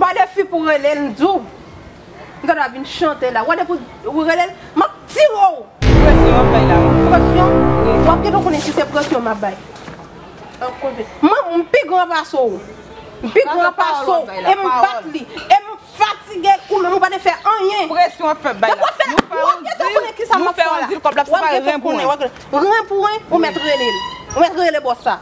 Gade fi pou rele l di w. Li ta dwe ap vin chante la. Gade pou w rele l. M ap tire w. Presyon w ap bay la wi. Presyon? Ou ap gentan konnen si se presyon m ap bay. An konnen. M pi gran pase w. M pi gran pase w. E m bat li. E m fatige l ou menm ou pa te fè anyen. Presyon w ap fè bay la. Ou ap gentan konnen kisa m ap fè la. Ou ap gentan konnen. Ren pou ren. Ou mèt rele l. Ou mèt rele bòs sa.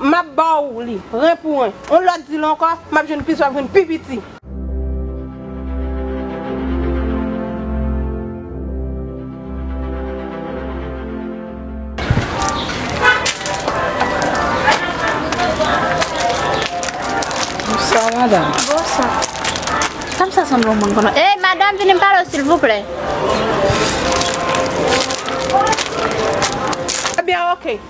M ap ba w li, ren pou ren. On lòt di l ankò, m ap jwenn plis, w ap jwenn pi piti. Bonswa madam. Bonswa. Tanm sa sanble yon moun m konnen. Hey madam vini m pale w silvouplè. Ebyen ok.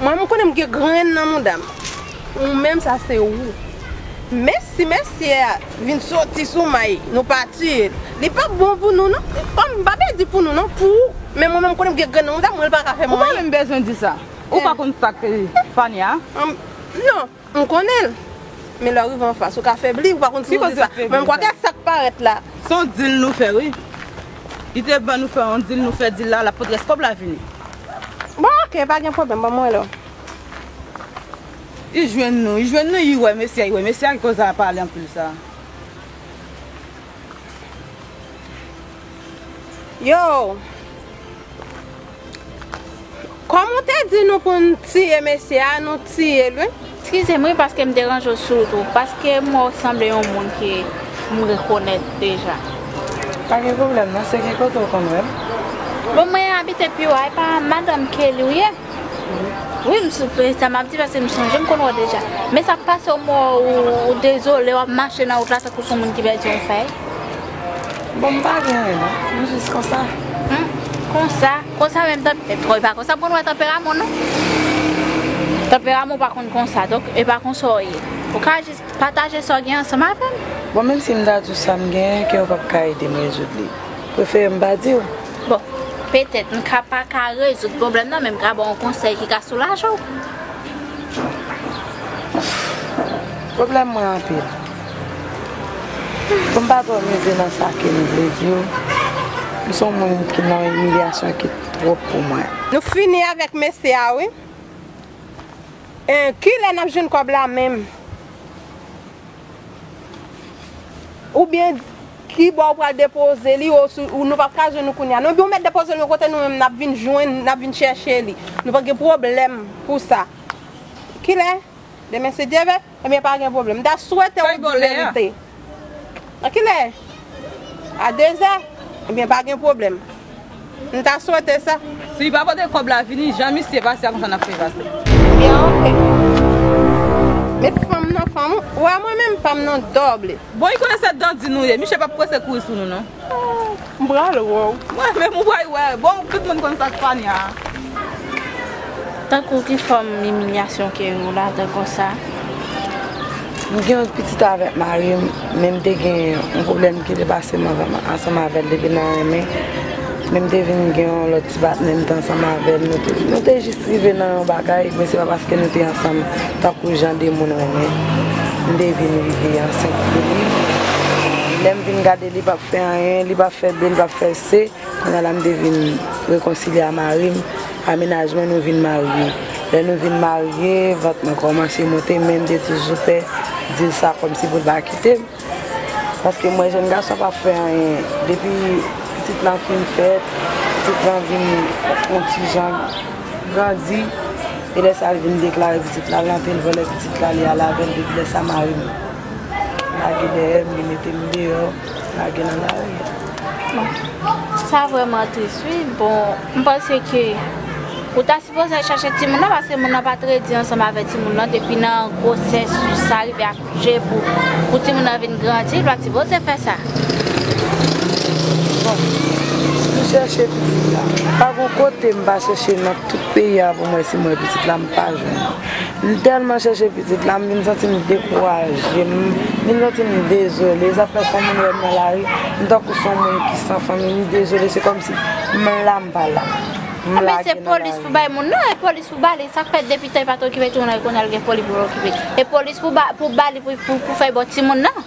Mwen m konnen m gen grenn nan mouda m ou menm sa se ou Mèsi mesye a vin soti sou may nou pa tiye l li pap bon pou nou non Kom m pa pe di pou nou non pou ou men mwen menm m konnen m gen grenn nan mouda m mwen l pa ka fè mwen anyen Ou pa menm bezwen di sa ou pa konn sak Fania Non. M konnen l. Men lè w rive anfas, ou ka febli, ou pa konn si w di sa. Men m kwè ke sa k parèt la. Se yon deal nou fè wi. Li te ban nou fè yon deal, nou fè deal la, l ap pot rès kòb la vini. Bon ok, pa gen pwoblèm, ban mwen wè. Li jwenn nou, li jwenn nou, li wè mesye a, li wè mesye a ki koz a pale anpil sa. Yo! Kòm ou te di nou pou nou tiye mesye a, nou tiye l wi. Skize m wi paske m deranje w sou wout ou. Paske m wè w sanble yon moun ke m rekonèt deja. Pa gen pwoblèm non. Se ki kote ou konn wè m? Bon mwen abite pi wo a. E pa madanm Kelly ou ye? Wi m soupe, sa map di paske m sonje m konn wè w deja. Men sa k pase w m wè w ou dezole w ap mache nan wout la tankou son moun ki pèdi yon fèy. Bon m pa gen anyen non, m jis konsa. Hum, konsa, konsa menm tanp, e bon e pa konsa m konn wè tanperaman w non. Tanperaman w pa konn konsa, donk e pa konsa w ye. Ou ka jis pataje sa w gen ansanm avè m. Bon menm si m ta di w sa m gen, ke w pap ka ede m rezoud li. Prefere m pa di w. Bon, petèt m ka pa ka rezoud pwoblèm nan men m ka ba w yon konsèy ki ka soulaje w. Pwoblèm mwen anpil. Pou m pa twò mize nan sa ke m vle di w, m se yon moun ki nan yon imilyasyon ki twòp pou mwen. Nou fini avèk mesye a wi. Kilè n ap jwenn kòb la menm? Ou byen di ki bò ou pral depoze li ou si nou pap ka jwenn ou kounye a. Non ebyen ou mèt depoze l yon kote nou menm n ap vin jwenn, n ap vin chèche li. Nou pa gen pwoblèm pou sa. Kilè? Demen si Dye vle? Ebyen pa gen pwoblèm. M ta swete ou di verite. Nan kilè? A dezè? Ebyen pa gen pwoblèm. M ta swete sa. Si li pa pote kob la vini jan misye pase a konsa nap fè pase. Bien ok. Met fanm nan fanm ou a mwen menm pam nan doble. Bon li konnen se dandi nou ye miche pap prese kouri sou nou non. M pral wè w. Mwen menm ou pral wè. Bon tout moun konn sak fania a. Tankou ki fòm imilyasyon ke ou la dan konsa? M gen yon pitit avèk mari m, men m te gen yon pwoblèm ki te pase m ansanm avè l depi nan renmen, men m te vin gen yon lòt ti patnè m te ansanm avè l, nou te jis rive nan yon bagay, men se pa paske nou te ansanm tankou jan de moun renmen, m te vin rive ansent pou li, lè m vin gade li pap fè anyen, li pap fè bi, li pap fè se. Kounya la m te vin rekonsilye a mari m, pa mennaj mwen nou vin marye. Lè nou vin marye, vant mwen kòmanse monte men m te toujou pè di l sa kòmsi pou l pa kite m. Paske m wè jèn gason an pa fè anyen. Depi pitit lan fin fèt, pitit lan vin yon ti jan grandi, e lè sa l vin deklare pitit la, l rantre l vòlè pitit la, li al avè l. Depi lè sa mari m lage dèyè m, li mete m deyò. Lage nan lari. Bon. Sa vreman tris wi. Bon, m panse ke ou ta sipoze al chache timoun nan paske moun nan pa t redi ansanm avè timoun nan depi nan gwosès jis sa rive akouche pou timoun nan vin grandi, l pa t sipoze fè sa. Bon. M chèche pitit la. Pa gon kote m pa chèche nan tout peyi a pou m wè si m wè pitit la, m pa jwenn. M tèlman chèche pitit la, m vin santi m dekouraje, m vin santi m dezole. Sa fè si yon moun wè m nan lari, m tankou si yon moun ki san fanmi, m dezole. Se kòmsi m la m pa la. M lage nan lari. Enben se polis pou bay moun nan, e polis pou ba li. Sa k fè depi tan li pa t okipe timoun nan, kounye a l gen foli pou l okipe. E polis pou ba li pou fè bò timoun nan.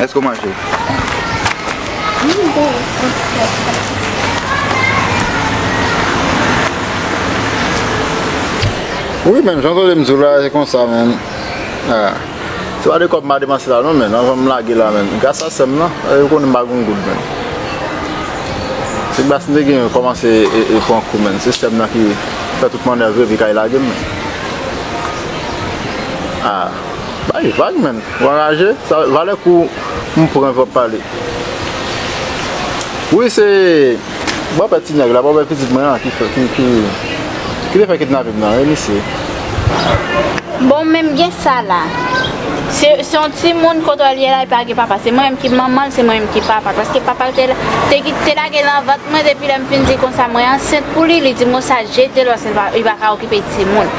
Eske ou manje? Wi men jan tande m di w la se konsa men Se pa de kòb m a depanse la non men Avan m lage la men Gras a sè m lan Yo konnen m pa gen yon goud men Se gras m te gen yo kòmanse e pran kou men Se sè m lan ki fè tout manèv yo epi kay lage m men Bay vag menn, w anraje, sa valè kou m pran vap pale. Wi se bòpè ti nèg la, bòpè pitit mwen an ki fè ki ki ki te fè kidnape m nan wi misye. Bon menm gen sa la. Se se yon timoun kote l ye la li pa gen papa, se mwen menm ki manman l, se mwen menm ki papa l paske papa l te te ki te lage l nan vant mwen depi lè m fin di konsa mwen ansent pou li, li di m konsa jete l paske li pa ka okipe timoun.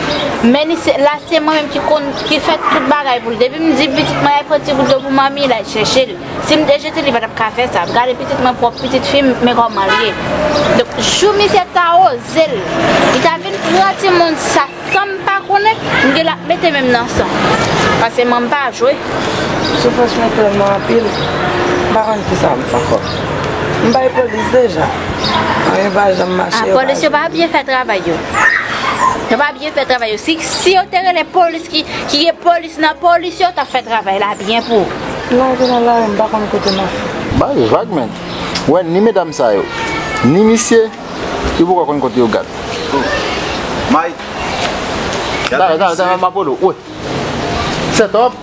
men li se la se mwen menm ki konn ki fè tout bagay pou li depi m di pitit mwen al pran ti gout dlo pou manmi l al chèche l si m te jete l li pa tap ka fè sa ap gade pitit mwen pwòp pitit fi m men kòman l ye donk jou misye ta oze l li ta vin pran timoun sa san m pa konnen m gela ap mete men m nan san pase mwen pa jwe soufrans mwen tèlman anpil m pa konn kisa m fè ankò m bay polis deja anyen pa janm mache yo pa jwenn m. Polis yo pa byen fè travay yo. Yo pa byen fè travay yo. Si yo te rele polis ki gen polis nan polis yo tap fè travay la byen pou. Lè vin nan lari m pa konn kote map fè. Bay vag menn. Wè ni medam sa yo. Ni misye. Yo poko konn kote yo gad. Mike. Gad la misye. Dale dale dale map pran dlo. Wè. Set up.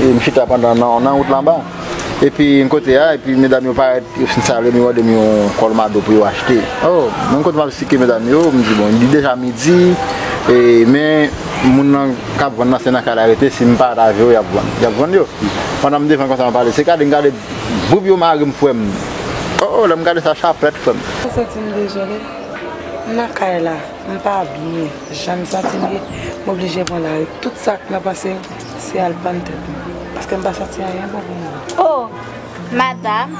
E m chita pandan nan wout la anba. Epi m kote a, epi medam yo parèt, yo fin salye m, yo mande m yon kolmado pou yo achte. O! Menm kote m ap esplike medam yo, m di bon, li deja midi, e men moun nan k ap vann nan se nan kay la yo rete, si m pa ta jere y ap vann. Y ap vann yo. Pandan m defann konsa m ap pale, se gade m gade, boub yo mare m frè m. O! Lè m gade sa, chaplèt frè m. M santi m dezole. M nan kay la, m pa byen. Jan m santi m ye, m oblije pran lari. Tout sa k nan panse m, se al pann tèt mwen. Paske m pa santi anyen bon pou mwen. O! Madam,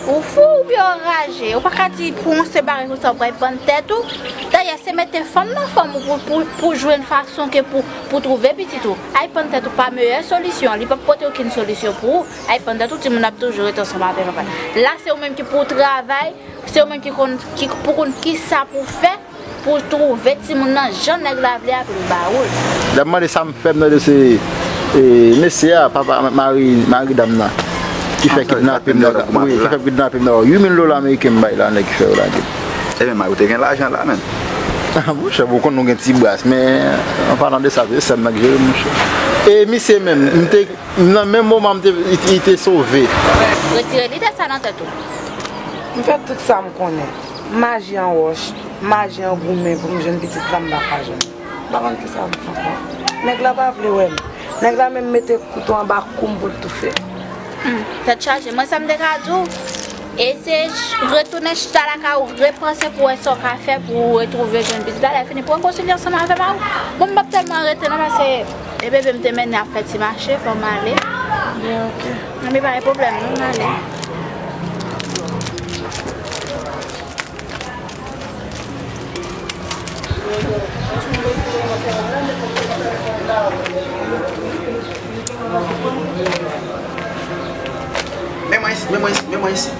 ou fou oubyen ou anraje? Ou pa ka di pou yon senp bagay konsa ou pral pann tèt ou? Dayè, se mete fanm nan fòm ou pou w jwenn fason ke pou w twouve pitit ou. Al pann tèt ou pa meyè solisyon an. Li p ap pote okenn solisyon pou ou. Al pann tèt ou, timoun nan ap toujou rete ansanm avè l anpè. La se ou menm ki pou w travay, se ou menm ki pou w konn kisa pou w fè. Poul trouve timoun nan jan nèg la vle a poul baoul. Dam nan mande sam fè mnon se mesye a papa mari dam nan ki fè kidnape m nan wi 8000 dola ameriken m bay la nèg ki fè yo lage m. Ebyen mari w te gen lajan la menm. Ah bon chèf ou konn nou gen ti bras men an palan de sa se sèm nan k jere m monchè e misye menm nan menm moman m te li te sove. Retire lide sa nan tèt ou. M fè tout sa m konnen. Maji an wòch, maji an goumen pou m jwenn pitit la m pa ka jwenn. M pa konn kisa m fè ankò. Nèg la pa vle wè m. Nèg la menm mete kouto anba kou m pou l toufe m. Hum, tèt chaje. Mwen sa m te ka di w? E se retounen chita lakay ou, repanse pou wè sa w ka fè pou ou retwouve jwenn pitit la. Lè fini, pran konsilye ansanm avè m a ou. Bon m p ap tèlman rete non paske e bebe m te mennen ap fè ti mache, fò m ale. Bon ok. Nan me pa gen problem non nan ale. Men mwen isit, men mwen isit, men mwen isit.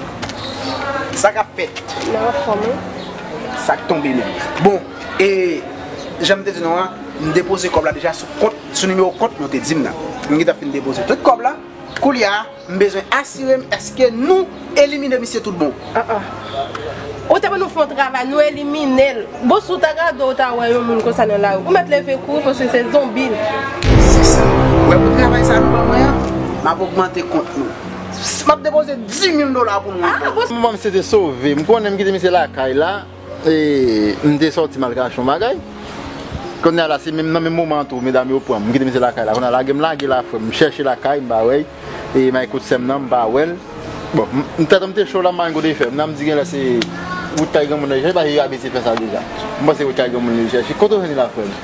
Sa kap fèt? Nan anfòm wi. Sak tonbe menm. Bon, e janm te di nou an, m depoze kòb la deja sou kont Sou nimewo kont nou te di m nan. M gentan fin depoze tout kòb la. Koulye a, m bezwen asire m èske nou elimine misye tout bon. An an. Ou te ban nou fè yon travay, nou elimine l. Bon, si w ta gade ou ta wè yon moun konsa nan lari, ou mèt leve kouri paske se zonbi l. Se sa. Ou wè pou travay sa a nou ban mwen an, m ap ogmante kont nou. M ap depoze dimil dola pou nou ankò. M panse te sove. M konnen m kite misye lakay la. E m te sòti m al kache yon bagay. Kounye a la se nan menm moman an tou medam yo pran m. M kite misye lakay la. Kounye a lage m lage la frè m. M chèche lakay m pa wè l. E m al kot sè m nan m pa wè l. Bon, tèt an m te cho la m pa gen kote fè. M nan m di gen lè se wout kay granmoun l al chèche l paske yo abitye fè sa deja. M panse se wout kay granmoun l al chèche. Kote w jwenn li la frè m?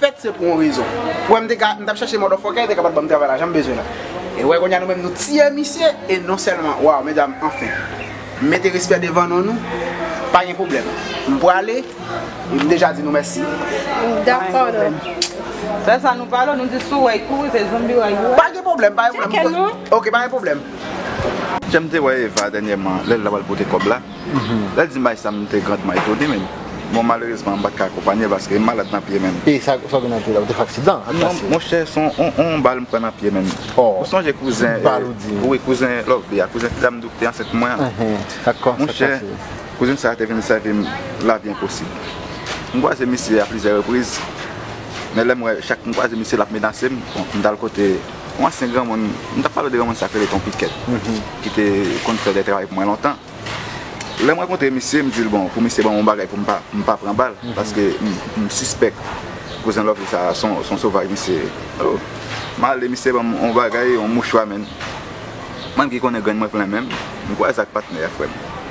fèt se pou yon rezon ou wè m te ka m tap chache motherfucker li te ka pat banm travay la jan m bezwen l la e wè kounya nou menm nou tiye misye e non sèlman waw medam anfen m mete respè devan non nou pa gen pwoblèm m prale e m deja di nou mèsi pa gen pwoblèm pa gen pwoblèm ok pa gen pwoblèm. Janm te wè Eva dènyèman lèl ta pral pote kòb la. Lè l di m bay sa m te grandman etone menm. Bon malerezman m pa t ka akonpanye l paske m malad nan pye menm. E sa w gen nan pye la? Ou te fè aksidan ak bas? Monchè se yon bal m pran nan pye menm. Ou sonje kouzen wi kouzen Lovebee a, kouzen ti dam doub te ansent pou mwen an? Monchè kouzen sa a te vin sèvi m lavi enposib. M kwaze misye a plizyè repriz men lè m wè chak m kwaze misye l ap menase m. M t al kote. Yon ansyen granmoun, m t ap pale de granmoun sa k rele Ton Pikèt, ki te konn fè de travay pou mwen lontan. Lè m rankontre misye, m di l bon, pou misye ban m yon bagay pou m pa pran bal, paske m sispèk Kouzen Lòvli sa a se yon sovaj misye ye. O! M ale, misye ban m yon bagay, yon mouchwa menn. Mwen ki konnen grenn mwen plen menm, m kwè sa ak patnè a frè m.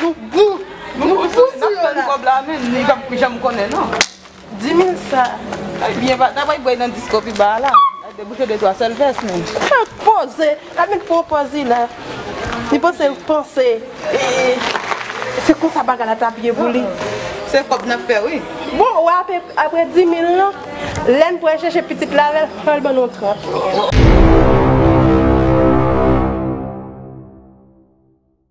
Nou gou! Nou gou sou yo la! Nap tann kob la men nou pap janm konnen non. Dimil sa. Ay byen pa ta bay bway nan disko pi ba a la. Al debouche de twa sèl vès men. Sa poze! Amel pran pòz li la. Li panse l panse se konsa bagay la tap ye pou li. Se kob nap fè wi. Bon ou wè apre dimil lan lèn pral chèche pitit la avèl fòl ban nou 30 mil.